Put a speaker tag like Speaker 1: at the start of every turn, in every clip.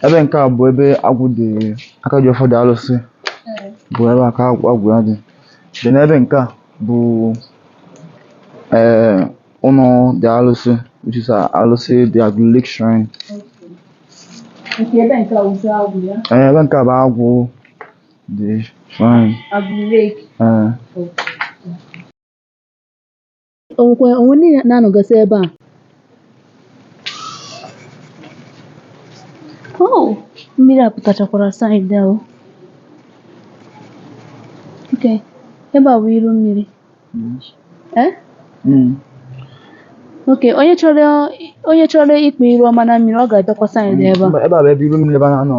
Speaker 1: ebe nke a bụ ebe agwụ dị aka ji ọfọ dị alụsị bụ ebe aka agwụ ya dị then ebe nke a bụ ee ụnọ dị alụsị which is uh, alụsị dị Agụlụ lake shrine Nke ebe nke a wụzi agwụ ya. ee ebe nke a bụ agwụ dị shrine Agụlụ lake. ee O nwekwa onwe ndị na-anọgasị ebe a. Oh, mmiri a pụtachakwara side a o. Okay, ebe a bụ iru mmiri. Eh? Okay, onye chọrọ onye chọrọ ike iru ọma na mmiri, ọ ga-abịakwa side ebe a. Ebe a bụ ebe iru mmiri ebe a na-anọ.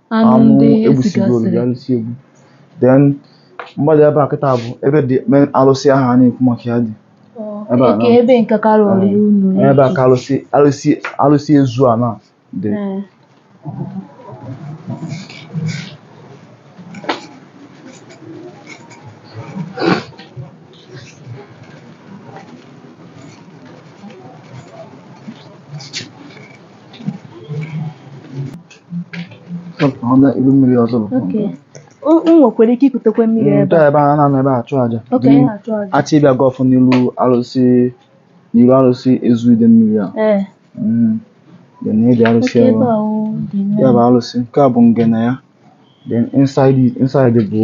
Speaker 1: anụmanụ ndị e gbusigo olu sigasịrị ya ndị si egbu then mmadụ ebe a kịta bụ ebe the main alụsị ahụ a na-ekwu maka ya dị ebe a eke na- ebe nke karịa ọrịa unu ebe a ka alụsị alụsị alụsị ezu a na dị Ee. ilu mmiri ọzọ nwekwara ike ikutekwa mmiri ebe a ebe a na-anọ ebe achụ aja a chọọ ịbịa gọọ ọfọ n'ilu arụsị n'ilu arụsị ezu Idemmiri a dị na ịdị arụsị ya bụ arụsị nke a bụ ngene ya then inside inside bụ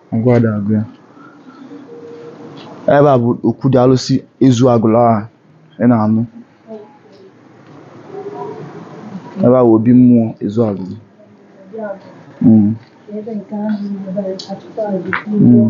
Speaker 1: Ngwa dị agwụ ya. Ebe a bụ okwu dị alụsị ezu Agụlụ a ị na-anụ. Ebe a bụ obi mmụọ ezu Agụlụ. Mm. Mm.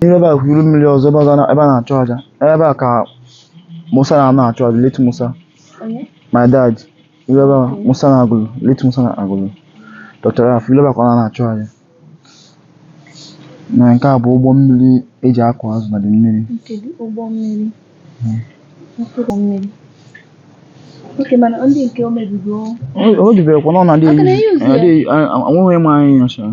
Speaker 1: N'ime ebe a bụ iru mmiri ọzọ ebe ọzọ na- ebe a na-achụ aja ebe a ka Musa na-anọ achụ aja late Musa Onye? my dad ilu ebe a Musa na Agụlụ late Musa na Agụlụ Dr. Raf ilu ebe a ka ọ na-achụ aja na nke a bụ ụgbọ mmiri e ji akụ azụ na dị mmiri Kedu ụgbọ mmiri? Okay ụgbọ mmiri. Okay mana ndị nke o mebigo o jibere kwa na ọ na-adị Ọ ka na-euse ya? enweghị m anyị nyocha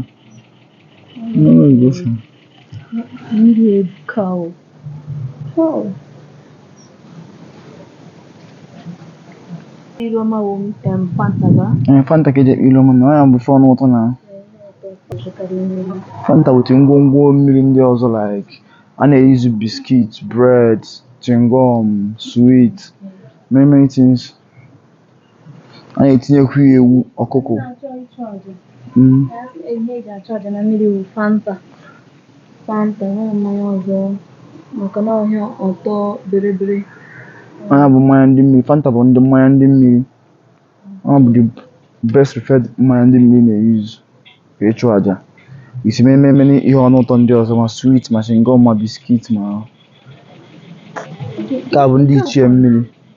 Speaker 1: Ilu ọma wo mi tem fanta ba. Eh fanta ka e ji eke ilu ọma no ya bụ ife o nweta na. Fanta with ngwongwo mmiri ndị ọzọ like a na-euse biscuit, bread, chewing gum, sweet, many many things. a na-etinyekwu ya ewu ọkụkọ na-achọ ịchụ aja Mm. na ihe eji achụ aja na mmiri bụ fanta fanta enweghị mmanya ọzọ maka na ọ ihe ọtọ biribiri ọ ya bụ mmanya ndị mmiri fanta bụ ndị mmanya ndị mmiri ọ bụ the best preferred mmanya ndị mmiri na-use ka ịchụ aja isi mee ememe na ihe ọnụ ụtọ ndị ọzọ ma sweet ma chewing gum ma biscuit ma nke a bụ ndị ichie mmiri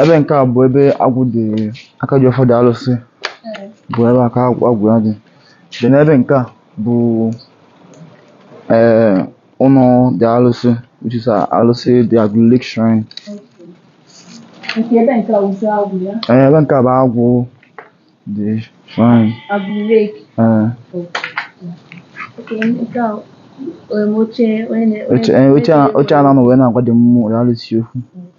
Speaker 1: ebe nke a bụ ebe agwụ dị aka ji ọfọ the alụsị bụ ebe aka agwụ ya dị dị n'ebe nke a bụ ee ụnọ the alụsị which is alụsị the Agụlụ lake shrine nke ebe nke a bụzi agwụ ya ee ebe nke a bụ agwụ the shrine Agụlụ lake ee oche a na-anọ wee na-agwa ndị mmụọ na alụsị okwu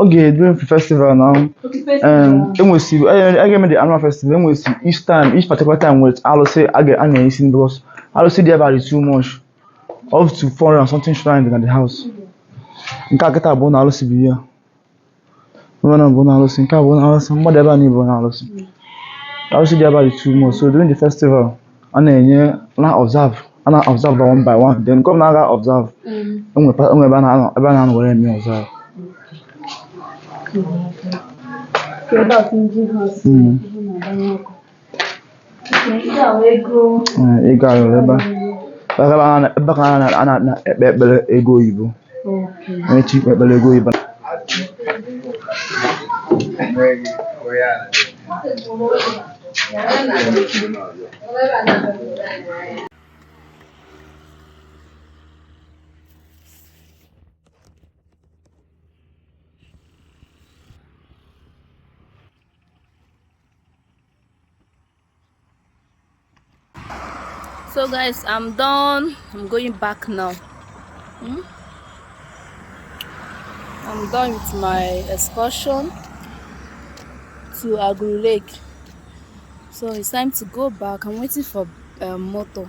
Speaker 1: ọ ga-edu mfe festival na e nwesi a ga-eme the annual festival e nwesi each time each particular time with alụsị a ga- a na-esi nni because alụsị dị ebe a dị too much up to 400 and something shrine dị na the house nke a kịta bụ ụnọ alụsị bụ ihe Ebe a bụ ụnọ alụsị, nke a bụ ụnọ alụsị, ma ndị ebe anị bụ ụnọ alụsị. Alụsị dị ebe a dị too much. So during the festival, a na-eje na observe, a na observe by one by one. Then nke ọbụla a ga observe, e nwe pa- e nwe ebe a na-anọ ebe a na-anọ were eme observe. Product ndị ha si Mm. na-agbanye ọkụ. Ee, ego ayọrọ ebe a. Ebe ka a na- ebe ka a na- a na- na- ekpe ekpere ego oyibo. Onye chọ ikpe ekpere ego oyibo. so guys i'm done i'm going back now hmm? i'm done with my excursion to aguru lake so it's time to go back i'm waiting for a um, motor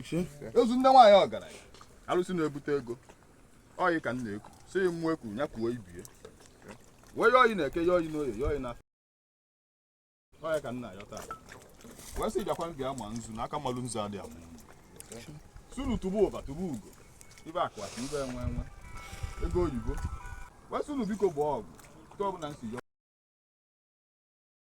Speaker 1: ezi nne nwaanyị ọgaranya alụsị na-ebute ego ọ yị ka m na-eku si mụ eku ya kuo ibie wee ya ọ yị n'Eke ya ọ yị n'Oye ya ọ yị na ọ yị ka m na-ayọ taa wee sị bịakwa bịa ma nzu na aka mmalụ nzu adị amụ sị unu tụba ụba tụba ugo ibe akwa ka ibe enwe enwe ego oyibo wee sị unu biko gbaa ọgụ nke ọbụla nsi yọ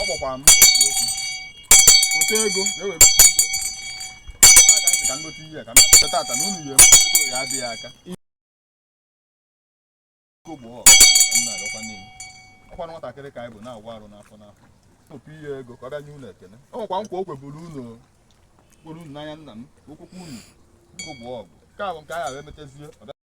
Speaker 1: ọ gbakwa m eziokwu ote ego ga-ewere aka ntị ka ngote ihe ka m bịa tata na unu ya eme ego ya adịghị aka ego bụ ọkwa ka m na-arịọkwa niile ọkwa nwatakịrị ka anyị bụ na-agwa arụ n'afọ n'afọ tụpụ ihe ego ka ọ bịa nye unu ekene o nwekwa nkwa o kweburu unu kporo unu n'anya nna m okwukwu unu ego bụ ọgụ nke a bụ nke anyị ahụ emetezie ọ bịa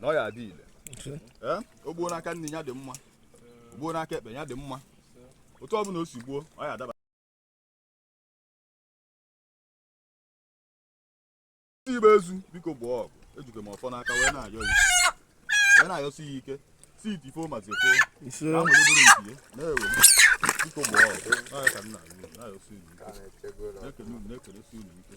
Speaker 1: na ọ ya adị ile ee o gbuo n'aka nni ya dị mma o gbuo n'aka ekpe ya dị mma otu ọ bụla o si gbuo ọ ya adaba ndị igbe ezu biko gbaa ọgụ ejike m ọfọ n'aka wee na-ayọ ya wee na-ayọsi ya ike si iti fo mazi fo ise na nwere bụrụ nke ya na-ewe biko gbaa ọgụ ọ ya ka m na-ayọ na-ayọsi unu ike na-ekele unu na-ekelesi unu ike